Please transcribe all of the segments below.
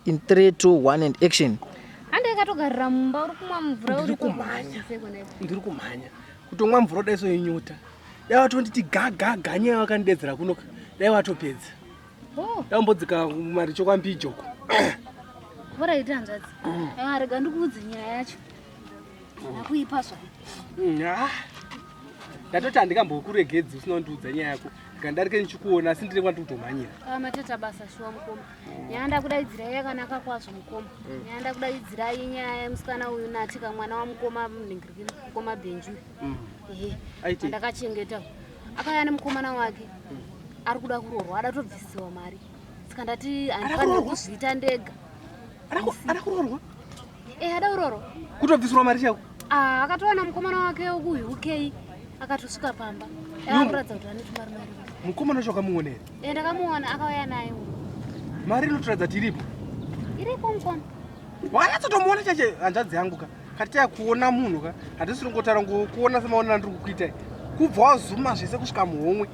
in 3 2 1 and action hande ikatogarira mumba uri kumwa mvura uri kumhanya ndiri kumhanya kutomwa mvura dai soinyuta dai watonditi gagaga nyaya wakandidedzera kuno dai watopedza oh. dai umbodzika mari chokwambijoko bora ita hanzvadzi mm. ah, rega ndikuudze nyaya yacho ndakuipa zva mm, ah. ndatoti handikambokuregedzi usina kundiudza nyaya yako ndarike ndichikuona asi ndine kwandiri kutomhanyira ah, mateta basa shuwa mukoma nyaya ndakudaidzirai yakanaka kwazvo mukoma mm. nyaya ndakudaidzirai nyaya yemusikana uyu natika mwana wamukoma mningiriki mukoma benju mm. ehe ndakachengeta akaya nemukomana wake mm. ari kuda kuroorwa adatobvisiwa mari saka ndati handifanire kuzviita ndega ada kuroorwa e ada kuroorwa kutobvisirwa mari chako ah, akatowana mukomana wake wekuhi ukei akatosvika pamba akuratidza kuti anetwumari mari mukomana wacho wakamuona here e ndakamuona akauya naye mari inotoratidza kuti iripo iripo mukoma wanyatsotomuona chache hanzvadzi yangu ka Katia kuona munhu ka hatisi ringotaura ngokuona semaona ndiri kukuitai kubva wazuma zvese kusvika muhomwe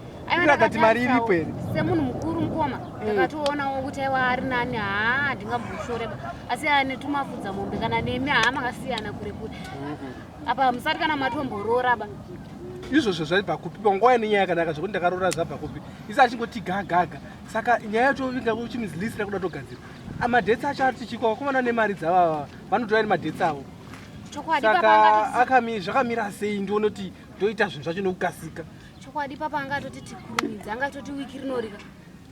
irakati mari iripo here semunhu mukuru mukoma mm. ndakatoonawo kuti aiwa ari nani haa ndingamboshoreba asi anetumafudza mombe kana nemi haa makasiyana kure kure mm-hmm. apa musati kana matombororaba izvozvo zvaibva kupi panguva yane nyaya yakanaka zvekuti ndakarora zvabva kupi isi achingoti gagaga saka nyaya yacho inga uchimizlisira kuda togadzira amadhetsi acho ari tichiko vakomana nemari dzavava vanotora iri madetsi avo chokwadi saka papa angatoti akami zvakamira sei ndione kuti ndoita zvinhu zvacho nekukasika chokwadi papa angatoti tikurumidze angatoti wiki rinorika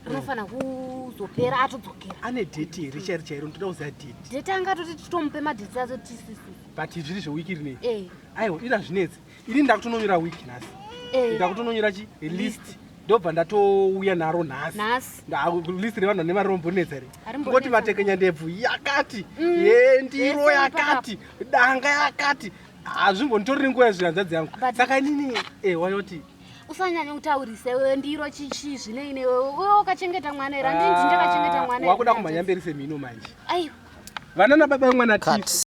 rinofanira kuzopera atodzokera ane deti here chairi chairo ndoda kuziva deti dheti angatoti titomupe madheti acho tisisi but zviri zvewiki rinei Eh. aiwa iri hazvinetsi ini ndakutononyora week nhasi eh. ndakutononyora chi list ndobva ndatouya naro nhasi list revanhu vane mari rombonetsa re kungoti vatekenya ndebvu yakati mm. ye ndiro yakati danga yakati hazvimbonditoriri nguva yezvihanzadzi yangu saka inini e eh, wayoti usanyanya kutaurisa iwewe ndiro chichi zvinei newewe uyo ukachengeta mwana here andinzi ndakachengeta mwana wakuda kumhanya mberi semhino manje aiwa vana nababa vemwana tisu